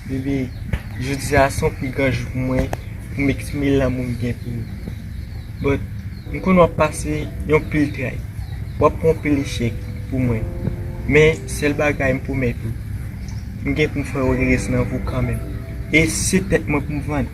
Bebe, jodi a son pi gran jou pou mwen pou m eksprime lanmou m gen pou ou. But, m konnen w ap pase yon pil tray. W ap pran pil echèk pou mwen. Men, sèl bagay m pwomèt ou, m gen pou m fè w rès nan vou kanmenm. E se tèt mwen pou m vann.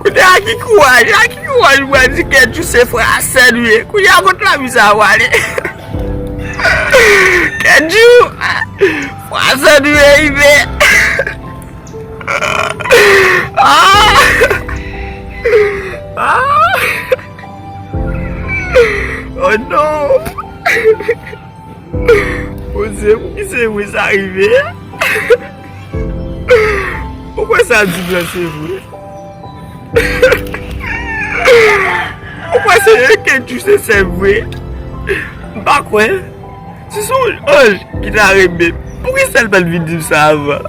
Kounye a ki kouraj, a ki kouraj ou pral di ke Djouse frasè nou ye. Kounye a kot lanbi sa a prale. Ke Djou frasè nou ye rive. Oh non. Bondye pou ki se mwen sa rive a? Ou kwè sa di m lan se vre? Ou kwè se yon kenjou se sè m vre? M pa kwè. Si se yon anj ki ta renmen m, pou ki sa l pa t vin di m sa avan?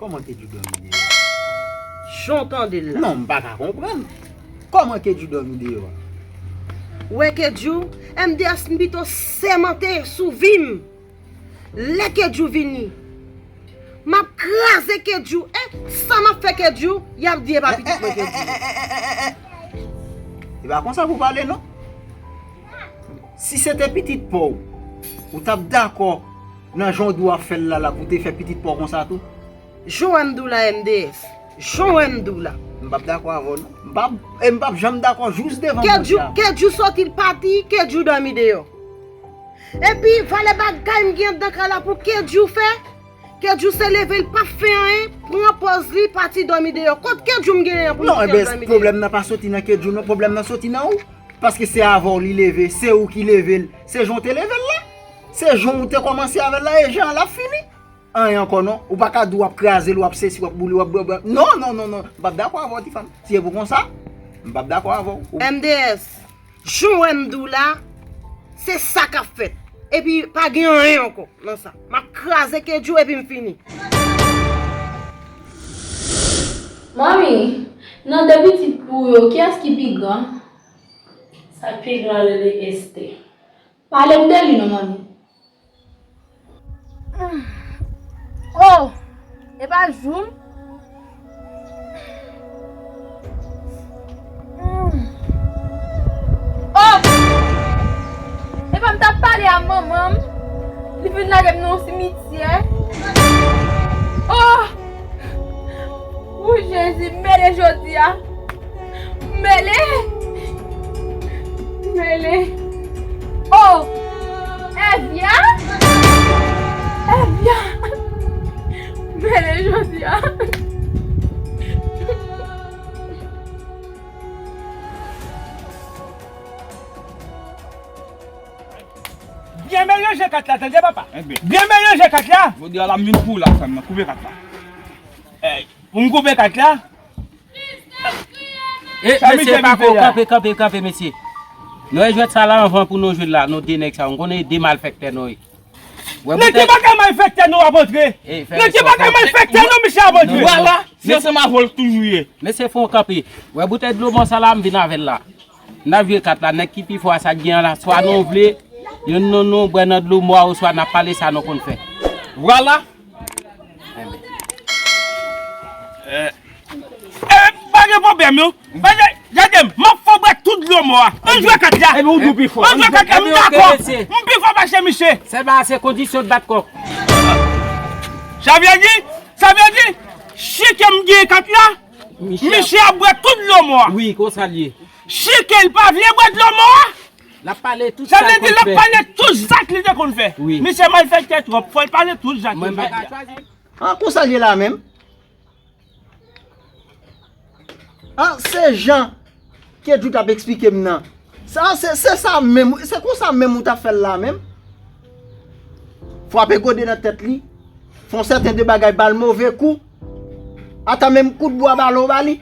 Koman ke Djoudan vin deyò a? Jan w tande l la. Non, m pa ka konprann. Koman ke Djoudan vin deyò a? Ou wè ke Djou, MDH m pito sèmante sou vi m. Lè ke Djou vini. M ap kraze ke Djou. E, sa m ap fè ke Djou, y ap di e pa pitit mwen ke Djou ye. E pa konsa pou w pale non. Si se te pitit pa w, ou t ap dakò. Nan jan w di w ap fè l la la pou w te fè pitit pa w konsa tou? Johanne Dou la MDF. Johanne Dou la. M pap dakò avè w non. M pap e m pap janm dakò jous devan Bondye ap pale. Ke Djou soti l pati, ke Djou dòmi deyò. Epi valè bagay m gen anndan kay la pou ke Djou fè? Ke Djou se leve l pap fè anyen, pran pòz li, pati dòmi deyò. Kot ke Djou m genyen an pou m di ke l dòmi deyò? Pwoblèm nan pa soti nan ke Djou non, pwoblèm nan soti nan ou. Paske se avè w li leve, se ou ki leve l, se jan w te leve l la. Se jan ou te komanse avèl la e jan lap fini anyen ankò non ou paka di wap krazel wap sesi wap boule wap bwè non non non non m pap dakò avèw ti fanm si se pou konsa m pap dakò avèw ou MDS Jan ou wèm diw la se sa kap fèt epi pa gen anyen ankò nan sa map kraze kedjou epim fini. Manmi, nan 2 pitit ou yo, kiyès ki pi gran? Sa k pi gran rele Esthé. Palem de li non manmi. Humm oh epa jou m. Humm oh epa m tap pale a manman m li vin lagem nan yon simityè oh. Ooh jezi m mele jodia m mele m mele oh evya evya m mele jodia byen melanje kat la tande papa byen melanje kat la jodia la m vin pou w la sèm nan koupe kat la. Pou m koupe kat la? E mesye pa ko kanpe kanpe kanpe mesye Nou e jwet sa la anvan pou nou jwel la nou de neg sa yo m konnen e de malfekte nou ye Neg ki paka malfekte nou ap antre Neg ki paka malfekte nou misye ap antre Wala se ansanm avol toujou ye Mesye fon kanpe Wè boutey dlo bon sa la m vin avel la. Nan vye kat la, nèg ki pi fò a sa gen an la, swa nou vle, youn nan nou bwè nan dlo mò a oswa nan pale sa nou konn fè. Vwala! Pa gen pwoblèm non! Gade m, m ap fè w bwè tout dlo mò a! An jwe kat la! Epi ou di w pi fò! An jwe kat la! M dakò! M pi fò pase misye! Sèlman a se kondisyon bat kò. Sa vle di, sa vle di, si ke m gen kat la. Misye ap bwè tout dlo mò a. Wi konsa l ye. Chike l pa vle bwè dlo mò a. Lap pale tout sa l konn fè. Sa vle di lap pale tout zak li te konn fè. Wi. Misye malfèktè twòp fò l pale tout zak li te konn fè. An konsa l ye la menm. An se jan Kedjou tap esplike m nan. Sa se se sa menm se konsa menm ou ta fèl la menm. Fwape gode nan tèt li. Fon sèten de bagay bal move kou. Ata menm kout bwa balo ba li.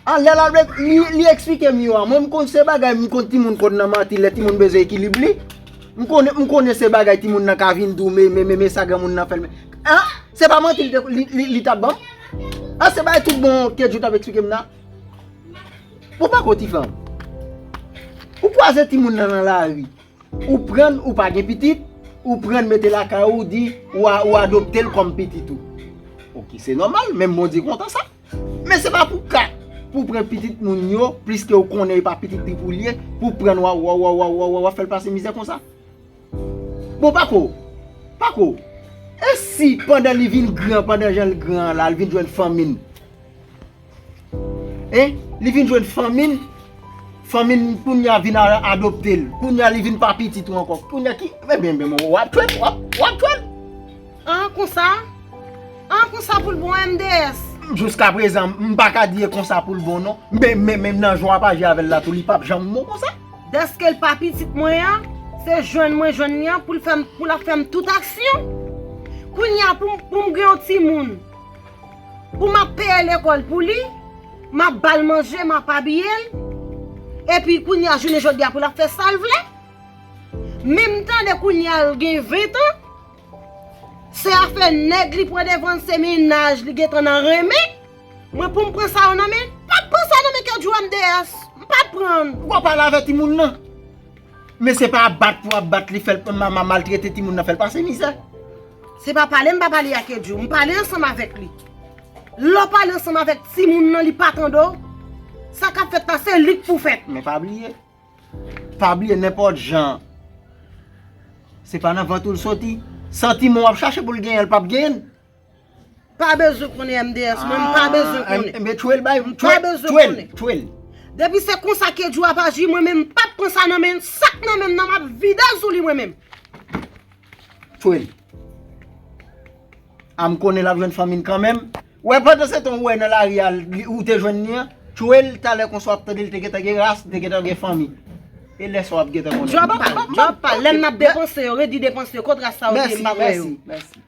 A lè lal li esplike m yo a mwen m konn se bagay m konn timoun konn nan manti lè timoun bezwen ekilib li. M konnen m konnen se bagay timoun nan ka vin di w me me me me sa granmoun nan fèl me. A se pa manti li tap banm. A se bagay tout bon Kedjou tap esplike m nan. Ou pa ko ti fanm. Ou kwaze ti moun nan nan la ri. Ou prann ou pa gen pitit. Ou prann mete la ka ou di ou adopte l kom pitit ou. Ok se nomal menm Bondye kontan sa. Men se pa pou ka pou pran pitit moun yo plis ke ou konnen e pa pitit li pou li ye. Pou prann wa wa wa wa wa wa wa fèl pase mizè konsa. Bon pa ko. Pa ko. E si pandan li vin gran pandan jan l gran la li vin jwenn fanmi l. Hein li vin jwenn fanmi l. Fanmi l kounya vin adopte l. Kounya li vin pa pitit ou ankò. Kounya ki ebyen ebyen bon wap jwenn wap jwenn. An konsa? An konsa pou l bon MDS? Jouska prezan m pa ka di e konsa pou l bon non. Men men men nan jan wap aji avè l la tou li pap janm bon konsa. Dèske l pa pitit mwen an, se jwenn mwen jwenn li an pou l fè m pou l ap fè m tout aksyon. Kounya pou m pou m gen yon timoun. Pou map peye lekòl pou li, map bal manje, map abiye l, epi kounya jounen jodia pou lap fè sal vle? Men m tande kounya l gen 20 ans, se afè nèg li pran devan l se mennaj li gentan nan renmen, mwen poum pran sa yo nan men l? Pap pran sa nan men kedjou MDS, m pap pran l. Ou pa pale avè timoun nan. Men se pa bat pou ap bat li fèl mama maltrete timoun nan fèl pase mizè. Se pa pale m pa pale ak Edjo, m pale ansanm avèk li. Lè w pale ansanm avèk timoun nan li pa tande w, sa k ap fèt la se li k pou fèt. Men pa bliye, pa bliye nenpòt jan se pa nan vant ou l soti. Santiman w ap chache pou l genyen l p ap genyen l. Pa bezwen konnen MDS mwen, m pa bezwen konnen. Enben tchwe l bay, tchwe l, tchwe l. Depi se konsa Kedjou ap aji mwen menm m pap pran sa nan men l, sa k nan men m nan m ap vide l sou li mwen menm. Tchwe l. A m konnen l ap jwenn fanmi l kanmenm. Ou wè pandan se tan ou wè nan lari a ou te jwenn li an, tchwe l talè konsa w ap tande l te gentan gen ras, te gentan gen fanmi. E lè sa w ap gentan konnen. Djòl pa l, djòl pa l. Lè m ap depanse yo, redi depanse yo, kot ras sa w te m pa kwè yo. Mèsi, mèsi, mèsi.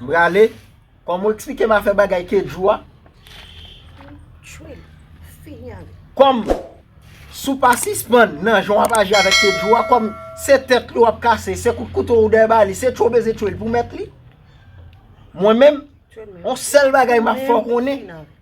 M prale Kòm ou eksplike m a fè bagay kedjou a Kòm Si w pa sispann nan jan w ap aji avèk kedjou a Kòm se tèt li w ap kase se kout kouto ou dèyè ba li se tchou beze tchou l pou mèt li Mwen menm On sèl bagay m ap fè w konnen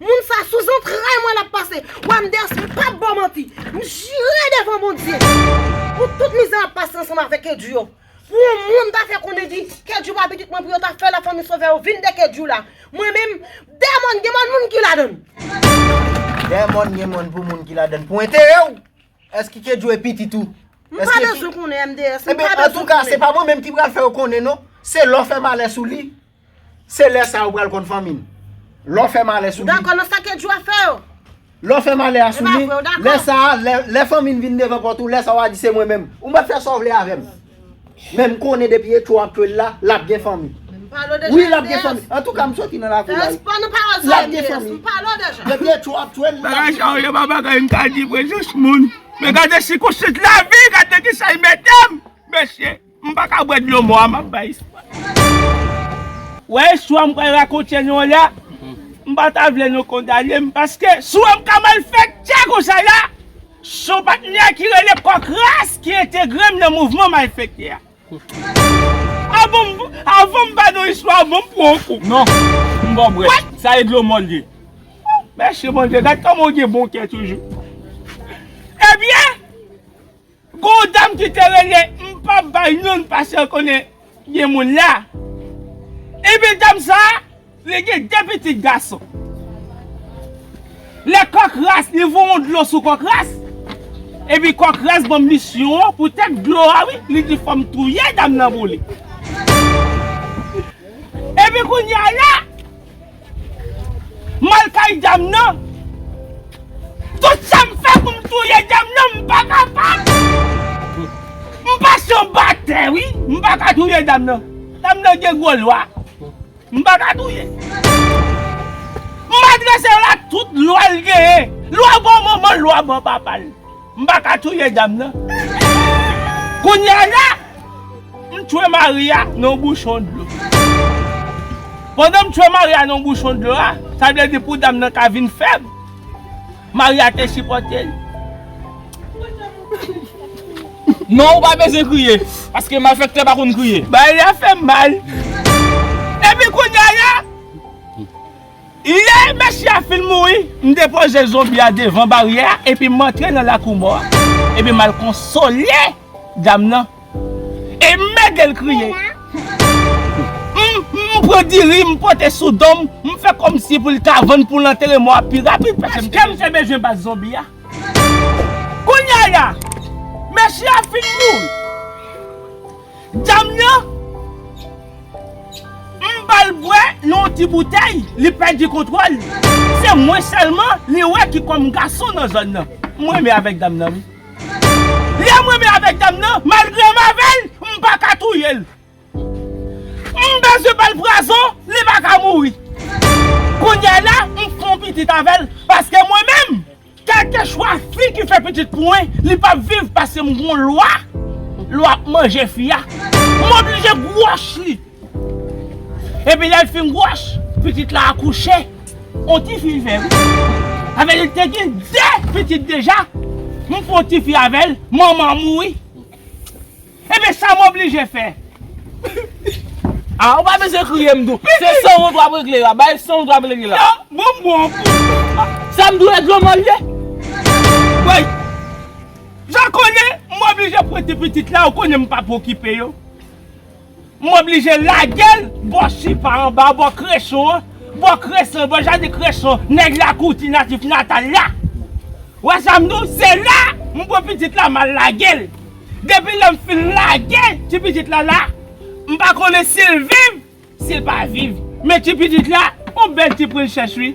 Moun sa sou zantray mwen lap pase. Wenders mwen pap baw manti. M jire devan Bondye. Pou tout mizè map pase ansanm avè Kedjy yo. Pou yon moun ta fè konnen di Kedjy pa pitit mwen pou yo ta fè la fanmi sovè yo vin de Kedjy la. Mwen menm dè mòn gen mòn moun ki ladann. Dè mòn gen mòn pou moun ki ladann. Pou enterè w. Eske Kedjy e pitit ou. M pa bezwen konnen MDS. Ebyen antouka se pa mwen menm ki pral fè yo konnen non. Se lè w fè malè sou li. Se lè sa ou pral konn fanmi n. Lè w fè malè sou li. Ou dakò nan sa Kedjou a fè yo? Lè w fè malè a sou li. Lè sa a, lè fanmi n vin devan pòt ou, lè sa a w a di se mwen menm. Ou mèt fè sa w vle avè m. Men m konnen depi Etcho ap twel la, l ap gen fanmi. Wi l ap gen fanmi. Antouka m soti nan lakou la. L ap gen fanmi. Depi Etcho ap twel, l ap gen fanmi. Bagay sa yo se pa bagay m ka di vre jis moun. Men gade sikonstans lavi, gade nan kisa l mete m. Mesye. M paka bwè dlo mò a map bay espwa. Wè istwa m pral rakonte nou an la, m pa ta vle nou kondane m paske sou an m ka mal fèt tcha konsa la, son patnè ki rele kòk ras ki entegre m nan mouvman malfèktè a. Avan m avan m ba nou istwa an bon m pran yon kou. Non, m ba w bwè, sa e dlo mò l ye. Mèsi Bondye, gad kòman w gen bon kè toujou. Ebyen! Gon yon dam ki te rele m pap bay non l paske l konnen gen moun la. Ebyen dam sa li gen 2 pitit gason. Lè kòk ras li voye yon dlo sou kòk ras. Epi kòk ras banm misyon an pou tèt dlo a wi li di fòm touye dam nan pou li. Epi kounya la. M al kay dam nan. Tout sa m fè pou m touye dam nan m pa kapab. M pa se yon batè wi. M pa ka touye dam nan. Dam nan gen gwo lwa. M pa ka touye. M adrese l ak tout lwa l genyen. Lwa bò manman l, lwa bò papa l. M pa ka touye dam nan. Kounya la, m tchwe mari a nan yon bouchon dlo. Pandan m tchwe mari a nan yon bouchon dlo a, sa vle di pou dam nan ka vin fèb, mari a te sipòte l. Non ou pa bezwen kriye, paske malfèktè pa konn kriye. Bagay la fè m mal. Epi kounya la. Lè mesye a fin mouri, m depoze zonbi a devan baryè a epi m antre nan lakou mò a. Epi m al konsole dam nan e m mède l kriye. M pran diri m pote sou do m, m fè kòmsi pou l ka vann pou l antere mò a pi rapid paske m te bezwen bat zonbi a. Kounya la, mesye a fin mouri. Dam nan m bal bwè nan yon ti boutèy li pèdi kontwòl se mwen sèlman li wè ki kòm gason nan zòn nan m renmen avèk dam nan wi lèm renmen avèk dam nan malgre m avèl m paka touyel m bezwen bal pwazon li paka mouri kounya la m fè yon pitit avèl paske mwen menm Kelkeswa fi ki fè pitit pou mwen, li pap viv pase m gon lwa, lwa ap manje fi a. M oblije gwòch li. Epi lè l fin gwòch, pitit la akouche. On ti fi l fè wi. Sa vle di l te gen 2 pitit deja. M fon ti fi avè l, manman an mouri. Ebyen sa m oblije fè. Ah ou pa bezwen kriye m tou. Se sanwont wap regle la. Bay sanwont wap regle la. Yo bon bon. Sa m dwe regle man ye. Woy. Jan konnen m oblije prete pitit la ou konnen m pap okipe yo. M oblije lage l bò sipa anba a, bò kreson an, bò kreson, bò jaden kreson nèg Lakouti natif natal la. Ou wè sa m di w? Se la m pran pitit la m al lage l. Depi lè m fin lage ti pitit la la, m pa konnen si l viv, si l pa viv. Men ti pitit la, on bèl ti princhès wi.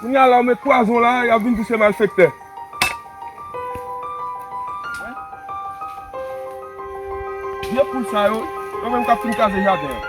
Kounya la ou met pwazon la yap vin di se malfektè. Vye poul sa yo, yo menm kap fin kraze jaden an.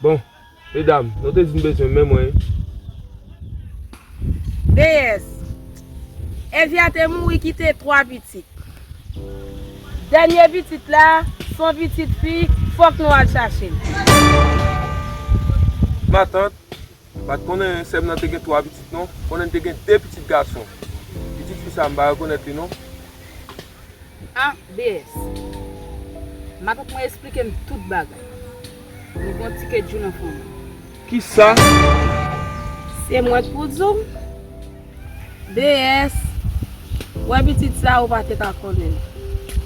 Bon medam nou te di n bezwen men mwen. Deyès. Evya te mouri kite 3 pitit. Dènye pitit la son pitit fi fòk nou al chache l. Matant. Pat konnen sèm nan te gen 3 pitit non, konnen li te gen 2 pitit gason. Pitit fi sa m pa rekonèt li non. A, BS. Matant mwen esplike m tout bagay. Nou gon ti kedjou nan fanmi. Kisa? Se mwen k pou di w? BS, Wè pitit sa ou pa te ka konnen.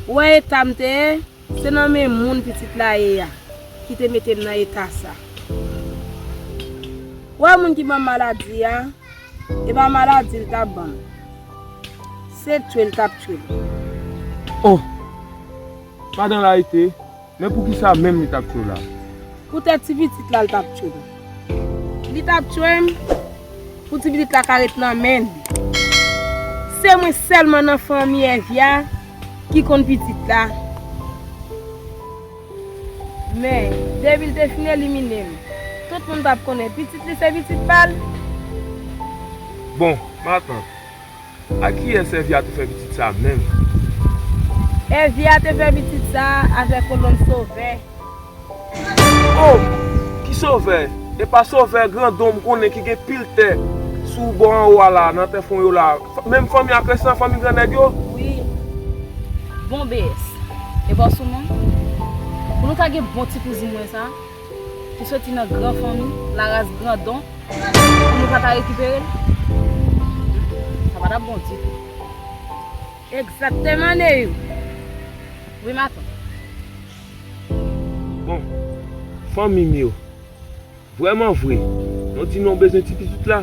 Ou wè eta m te ye? Se nan men moun pitit la ye a ki te mete m nan eta sa. Wè moun ki ban m maladi a, e pa maladi l t ap ban m. Se twe l t ap twe m. O! Madan Layite, men poukisa menm li t ap twe w la? Poutèt ti pitit la l t ap twe m. Li tap tchwem pou ti pitit la ka ret nan men li. Se mwen selman nan fanmi Evia ki konn pitit la. Men, depi li te fin eliminem, tout moun tap konnen pitit li se pitit pal. Bon, matant. A kiyès Èvya te fè pitit sa a menm? Èvya te fè pitit sa a avèk yon nonm sovè. O! Ki sovè? E pa sovè grandon m konnen ki gen pil tè sou bò anwo a la, nan tè fon yo la. Menm fanmi ak rès nan fanmi gran nèg yo? Wi. Bon BS. E ba w sou mwen? Pou nou ta gen bon ti kouzin mwen sa a? Ki soti nan gran fanmi, laras grandon, pou nou pa ta rekipere l? Sa pa t ap bon ditou. Egzakteman, Neyou! Wi, matant. Bon, fanmi m yo, vrèmanvre, nou di nou bezwen ti pitit la?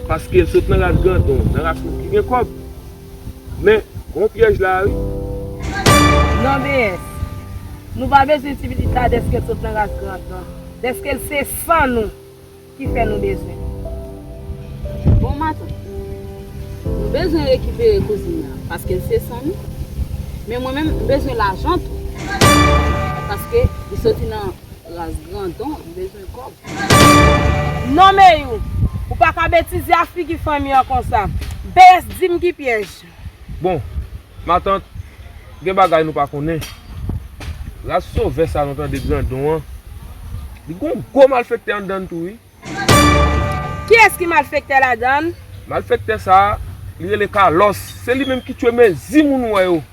Paske l sot nan ras grandon, nan ras moun ki gen kòb? Men gon pyèj la a wi. Non BS. Nou pa bezwen ti pitit la dèske l sot nan ras grand nan. Dèske l se san nou ki fè nou bezwen l. Bon matant. Nou bezwen rekipere kouzin nan paske l se san nou. Men mwen menm m bezwen lajan tou. Paske li soti nan ras grandon. pil kob. Non meyou Ou pa ka betize a figi fanmi an konsa. BS dim ki pyèj. Bon matant gen bagay nou pa konnen ras sovè sa nou tande grandon an li gon gwo malfektè andann tou wi. Kiyès ki malfektè ladann? Malfektè sa li rele kalòs se li menm ki tchwe mezi moun wè yo.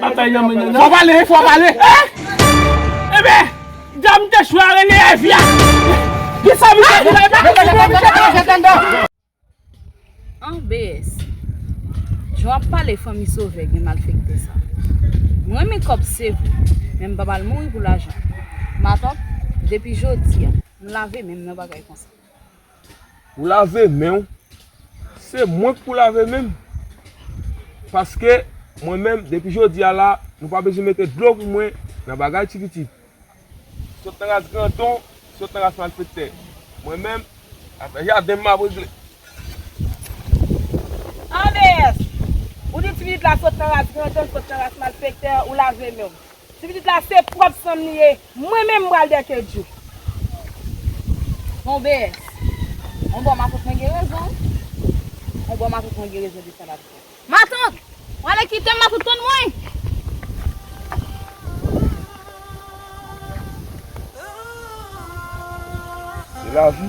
Batay nan mennen nan. Fò pale wi fò pale. Eeh! Ebe! Dam te chwe a rele Evi a. Ki sa misye di la epa konprann sa misye di la tande. An BS Jan wap pale fanmi sovè gen malfekte sa Mwen renmen kòb sevre men m pap al mouri pou lajan Matant depi jodia m lave menm nan bagay konsa. Ou lave menw. Se mwen k pou lave menm. Paske mwen menm depi jodi a la nou pa bezwen mete dlo pou mwen nan bagay ti pitit. Sot nan ras grandon, sot nan ras malfektè. Mwen menm afè jaden m map regle. Anmeyy! Ou di ti pitit la sot nan ras grandon, sot nan ras malfektè, ou lave menw. Ti pitit la se prop sanm li ye mwen menm mpral dèkedjou. Bon BS. On bò matant mwen gen rezon wi. On bò matant mwen gen rezon de sa lap di. Matant! Wale kitem matant tann mwen! Se lavi.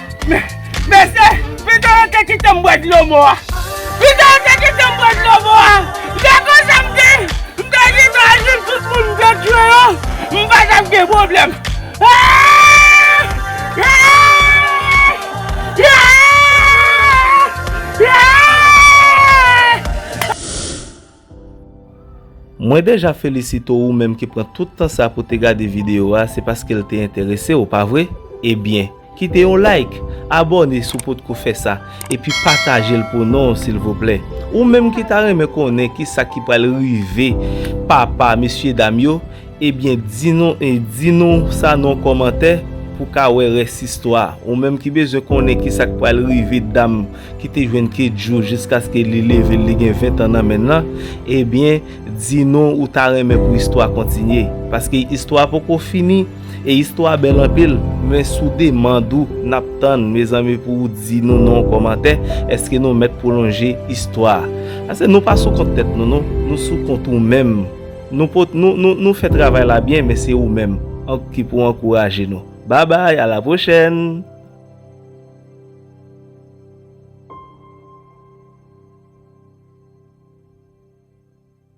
Mesye, pito yo te kite m bwè dlo mò a. Pito yo te kite m bwè dlo mò a. Se konsa m te, m te di nou al jwenn tout moun m te tchwe yo, m pa t ap gen pwoblèm. Mwen deja felisite ou menm ki pran tout tan sa pou te gade video a se paske l te enterese w pa vre? Ebyen kite yon like, abòne si w potko fè sa epi pataje l pou non silvouplè. Ou menm ki ta renmen konnen kisa ki pral rive papa mesyedam yo, Ebyen di nou e di nou sa non kòmantè pou ka wè rès istwa ou menm ki bezwen konnen kisak pral rive dam ki te jwenn kedjou jiskaske li level li gen 20 tan nan menn lan ebyen di nou ou ta renmen pou istwa kontinye paske istwa poko fini e istwa bèl anpil men sou demand ou nap tann mezanmi pou ou di nou non kòmantè eske nou mèt pwolonje istwa a ase nou pa sou kont tèt nou non nou sou kont ou menm. Nou pot nou fè travay la byen men se ou menm ank ki pou ankouraje nou babay a la pwochèn.